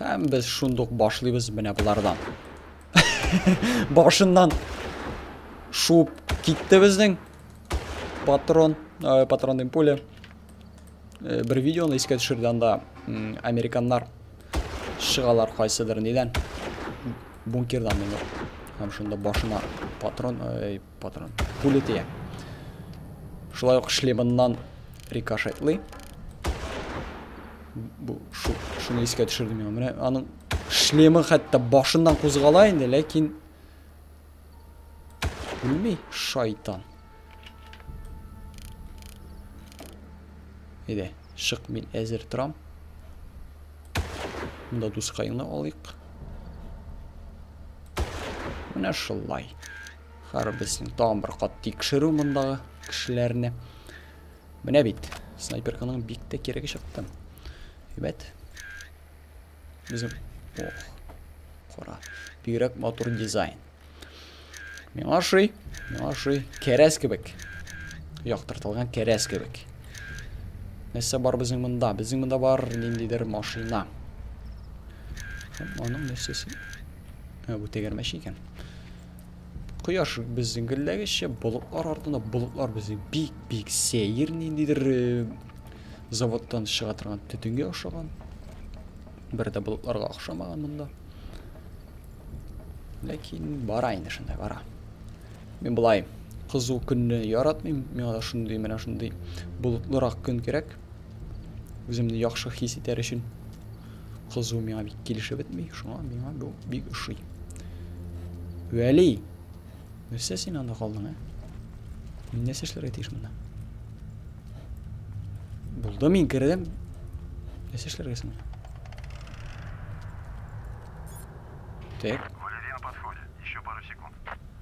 Һәм без шундук башлыйбыз менә болардан. Башыннан шуып китте безнең патрон, ә, патрон дим пуля. Ә, бер видеоны искә төшерде анда американнар шыгалар кайсыдыр нидән бункердан менеп. Һәм шунда башына патрон, ә, Патрон. Пули тия. Шулай ук шлемыннан рикошетлый. Бу шу, шуны искә төшердем миңа. Менә аның шлемы хәтта башыннан кузгала инде, ләкин үлми шайтан. Әйдә, шык мин әзер торам. Монда дускайны алыйк. Менә шулай. Хәр безнең тагын бер кат тикшерү мондагы кешеләрне. Менә бит, снайперканың бик тә кирәге чыкты. Әйбәт. Безнең... Ох, кара. Бигрәк матур дизайн. Миңа ошый, миңа ошый. Кәрәз кебек. Яктыртылган кәрәз кебек. Нәрсә бар безнең монда? Безнең монда бар ниндидер машина. Аның нәрсәсе? Ә, бу тәгәрмәч икән. Кояш безнең гелләгеччә, болытлар артында, болытлар безнең бик-бик сәер ниндидер э, заводтан чыга торган төтенгә охшаган. Бер дә болытларга охшамаган монда. Ләкин бара инде шундай бара. Мин былай кызу көнне яратмыйм. Миңа да шундый менә шундый болытлырак көн кирәк. Үземне яхшы хис итәр өчен кызу миңа бик килешеп бетми, шуңа миңа бу бик ошый. Вәли, нәрсә син анда калдың, ә? Мин нәрсә эшләргә тиеш монда? Булды, мин кердем. Нәрсә эшләргә соң? Так.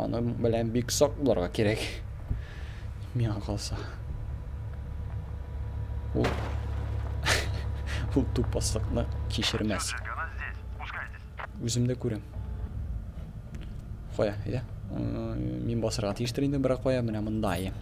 Аның белән бик сак булырга кирәк. Миңа калса. Ул ул тупаслыкны кичермәс. Үземдә күрәм. Кая, әйдә. Мин басырга тиештер инде, бирок кая, менә монда.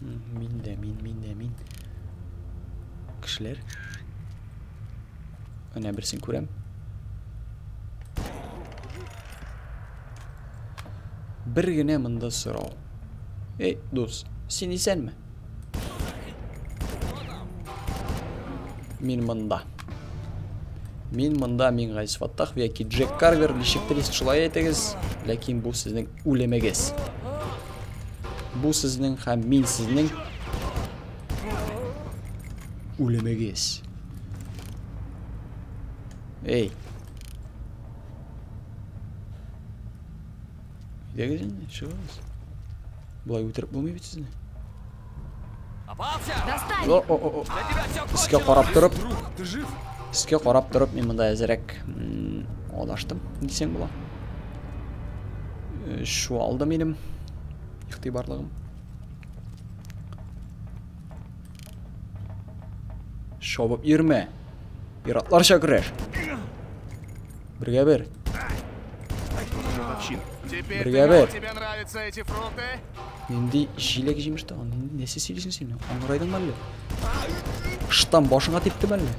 Мин дә, мин, мин дә, мин. Кешеләр. Менә берсен күрәм. Бер генә монда сорау. Эй, дус, син исәнме? Мин монда. Мин монда мин Гайс Фаттах яки Джек Карвер, ничектер шулай әйтегез, ләкин бу сезнең Үлемегез. Бу сезнең һәм мин сезнең үлемегез. Эй. Идегез инде, чыгыгыз. Болай үтереп булмый бит сезне. Искә карап торып. Искә карап торып, мин монда әзерәк адаштым, дисәң була. Э, шу алды минем ихтибарлыгым. Шабып йөрмә. Пиратларча көрәш. Бергә бер. Бергә бер. Нинди җиләк җимеш тә аны. Нәрсә сөйлисең син? Аңгырайдыңмы әллә? Штам башыңа типтеме әллә?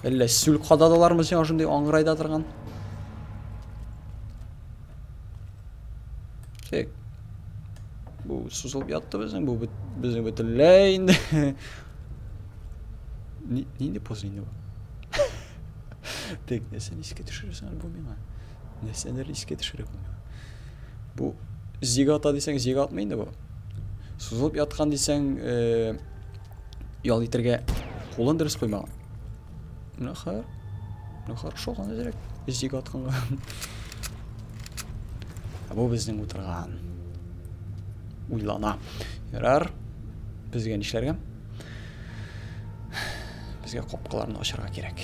Әллә сүл кададылармы сиңа шундый аңгырайда торган? Тек. Бу сузылып ятты безнең, бу безнең бөтенләй инде. Нинди поз инде бу? Тек, нәрсә искә төшерәсең бу миңа? нәрсәләр искә төшерә бу бу зигата дисәң зигатмы инде бу сузылып яткан дисәң э, ял итәргә кулын дөрес куймаган ну хәер ну хорошо гана дирәк зига атканга бу безнең утырган уйлана ярар безгә нишләргә Безгә капкаларны ачарга кирәк.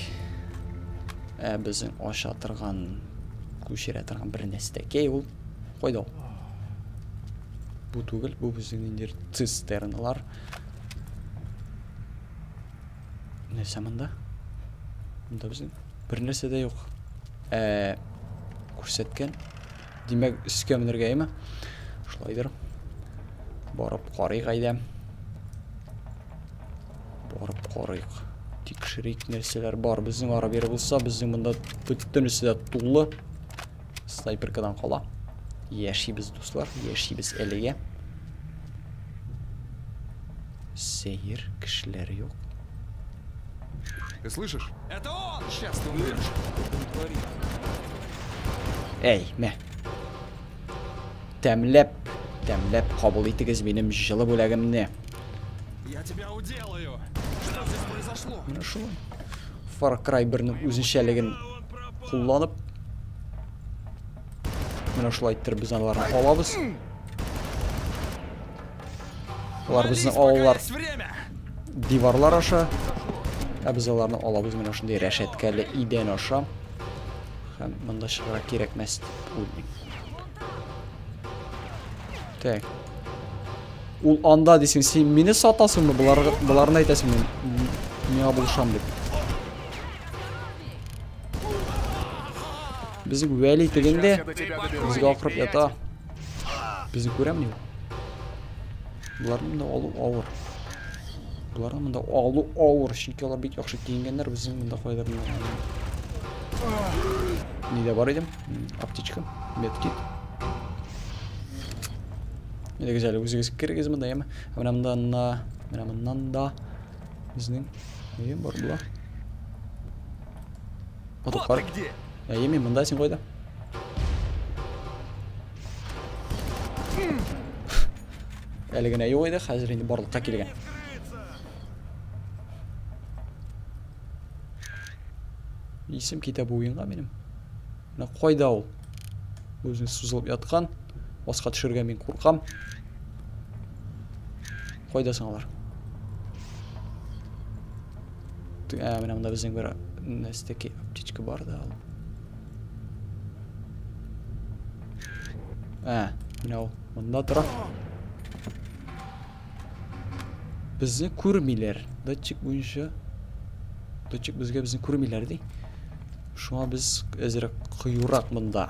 Ә безнең аша торган, күчерә торган бер нәрсә дә кей ул. Кайда ул? Бу түгел, бу безнең ниндидер цистерналар. Нәрсә монда? Монда безнең бер нәрсә дә юк. Ә күрсәткән Димәк, өскә менергә, әйме? Шулайдыр. Барып карыйк әйдә. Барып карыйк. Тикшерик, нәрсәләр бар. Безнең ара бер булса, безнең монда бөтенесе дә тулы. Снайперкадан кала. Яшибез, дуслар, яшибез әлегә. Сәер кешеләр юк. Ты слышишь? Это он! Сейчас ты умрешь. Эй, мә. Тәмләп, тәмләп кабул итегез минем җылы бүләгемне. Я тебя уделаю. Что здесь произошло? Менә шулай. Far Cry 1-ның үзенчәлеген кулланып менә шулай иттереп без аларны алабыз. Алар безне алалар. Диварлар аша. Ә без аларны алабыз менә шундый рәшәткәле идән аша. Һәм монда чыгарак кирәкмәс дип уйлыйм. Так. Ул анда дисең, син мине сатасыңмы? Болар боларны әйтәсең мин. Миңа булышам дип. Безнең Вәли тегендә. Безгә акырып ята. Безне күрәмени ул? Боларны монда алу авыр. Боларны монда алу авыр, чөнки алар бик яхшы киенгәннәр, безнең монда кайда Нидә бар идем? Аптечка, медкит. Әйдәгез әле үзегез керегез монда, яме. Менә монда на, менә моннан да безнең нидә бар була? Вот ты где? Ya yemin bunda için koydum. Әле генә юк иде, хәзер инде барлыкка килгән. Исем китә бу уенга минем. Менә кайда ул? Үзен сузылып яткан. Аска төшергә мин куркам. Кайда соң алар? Ә, менә монда безнең бер нәстәки аптечка бар да. Ә, менә ул монда тора. Безне күрмиләр. Датчик буенча датчик безгә безне күрмиләр ди. Шуңа без әзрәк кыюрак монда.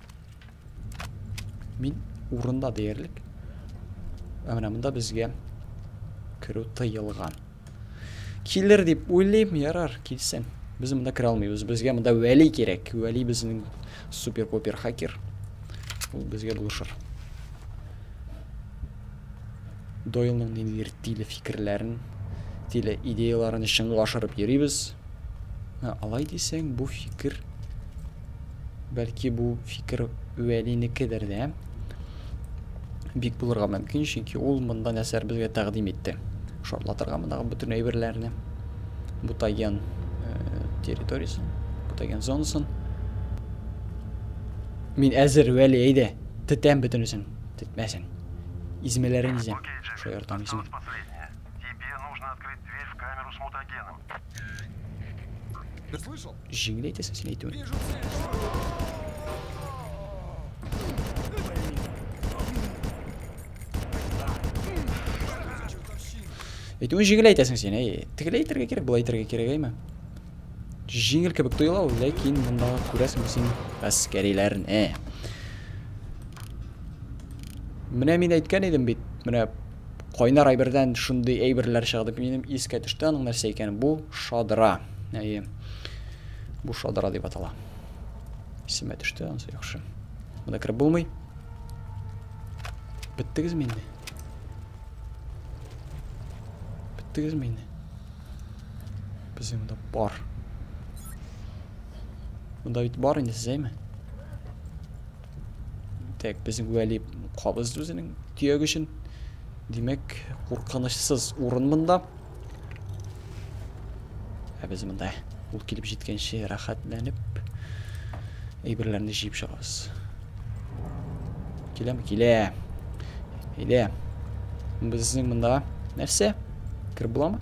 Мин урында диярлек. Ә менә монда безгә керү тыелган. Килер дип уйлыйм, ярар, килсен. Без монда керә алмыйбыз. Безгә монда Вәли кирәк. Вәли безнең супер-попер хакер. Ул безгә булышыр. Дойлның ниндидер тиле фикерләрен, тиле идеяларын чынга ашырып йөрибез. Ә алай дисәң, бу фикер бәлки бу фикер Вәлинекедер дә бик булырга мөмкин, чөнки ул монда нәрсәләр безгә тәкъдим итте. Шартлатырга мондагы бөтен әйберләрне, бутаген э, территориясен, бутаген зонасын. Мин әзер, Вәли, әйдә, тетәм бөтенесен, тетмәсен. Измәләрен изәм. Шаяртам измә. Җиңел әйтәсең син әйтүен. Әйтүен җиңел әйтәсең син, әй. Тегеләйтергә кирәк, былай итәргә кирәк, әйме? Җиңел кебек тоела ул, ләкин монда күрәсең син әскәриләрне. Менә мин әйткән идем бит, менә кайнар әйбердән шундый әйберләр чыга дип минем искә төште аның нәрсә икәнен. Бу шадра. Әйе. Бу шадра дип атала. Исемә төште, анысы яхшы. Монда кереп булмый. Беттегезме инде? Беттегезме инде? Без инде монда бар. Монда бит бар инде сез әйме? Так, безнең вәли кабыз үзенең төяк өчен. Димәк, куркынычсыз урын монда. Ә без монда ул килеп җиткәнче рәхәтләнеп әйберләрне җыеп чыгабыз. Киләме? Килә. Әйдә. Безнең монда нәрсә? Кер буламы?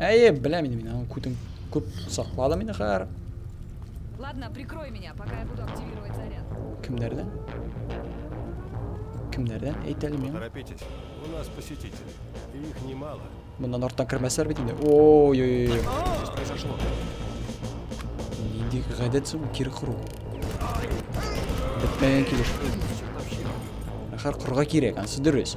Әйе, беләм инде мин аның күтен күп сакладым инде хәзер. Ладно, прикрой меня, пока я буду активировать заряд. Кемнәрдән? Кемнәрдән? Әйт әле миңа. Торопитесь. У нас посетители. И их немало. Моннан арттан кермәсләр бит инде. Ой-ой-ой. Что произошло? Нинди гадәт соң кир кыру. Бетмәгән килеш. Ахар кырга кирәк, ансы дөрес.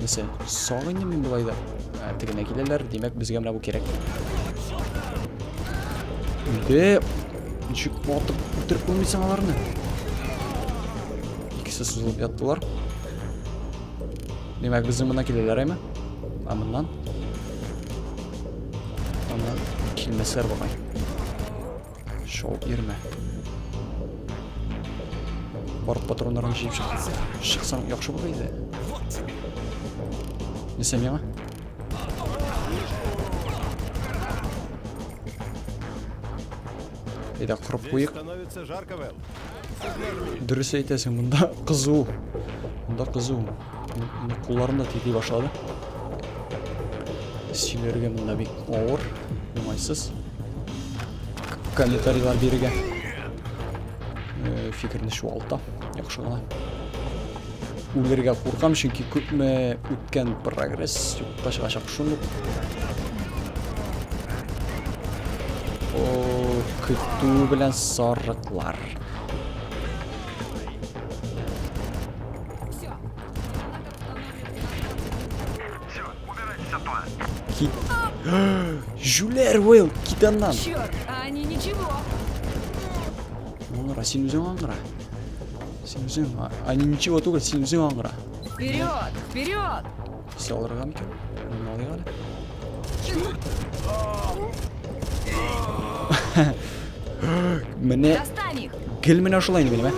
Нәрсә, соң инде мин болай да. Ә, тегенә киләләр, димәк, безгә менә бу кирәк. Де, ничек атып үтереп булмыйсың аларны? Икесе сузылып яттылар. Димәк, безнең мына киләләр, әйме? Ә моннан? Моннан килмәсләр бугай. Шоу ирмә. Бар патроннарын җыеп чыкса, шыксан яхшы булыр иде. Нисем яңа? Әйдә, кырып куйык. Дөрес әйтәсең, монда кызу. Монда кызу. Кулларым да тиди башлады. Сөйләргә монда бик авыр, уңайсыз. Комментарийлар бирергә. Э, фикерне чуалта. Яхшы гына. Үлергә куркам, чөнки күпме үткән прогресс юкка чыгачак шуны. О, көтү белән сарыклар. Кит. Жюлер Уилл, китаннан. Черт, они ничего. Монра, син үзең аңгыра. Синжин, а, а ничего түгел, синжин аңгыра. Вперед! Вперед! Все алырга микән? Менә алыйк әле. Менә Достань их! гел менә шулай инде минем, ә?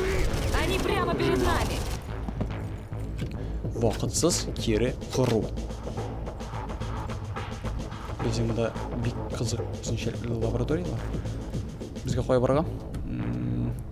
Они прямо перед нами! Вакытсыз кире кору. Безнең монда бик кызык үзенчәлекле лабораторияләр. Безгә кая барырга?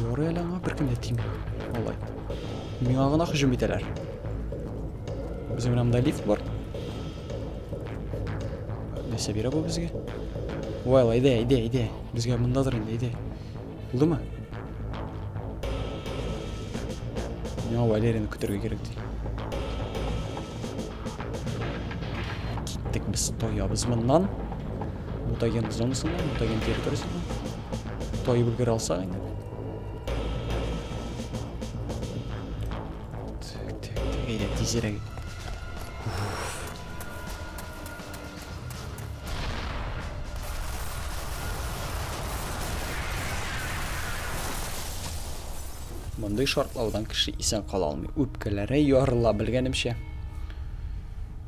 Ярый әле аңа беркем дә тими. Алай. Миңа гына һөҗүм итәләр. Безнең менә монда лифт бар. Нәрсә бирә бу безгә? Вай, әйдә, әйдә, әйдә. Безгә мондадыр инде, әйдә. Булдымы? Миңа Валерияны көтергә кирәк ди. Киттек без тоябыз моннан. мутаген зонасына, мутаген территориясенә таеп өлгерә алсак инде. Так, так, так, әйдә тизрәк. Мондый шартлаудан кеше исән кала алмый. Үпкәләре ярыла белгәнемчә.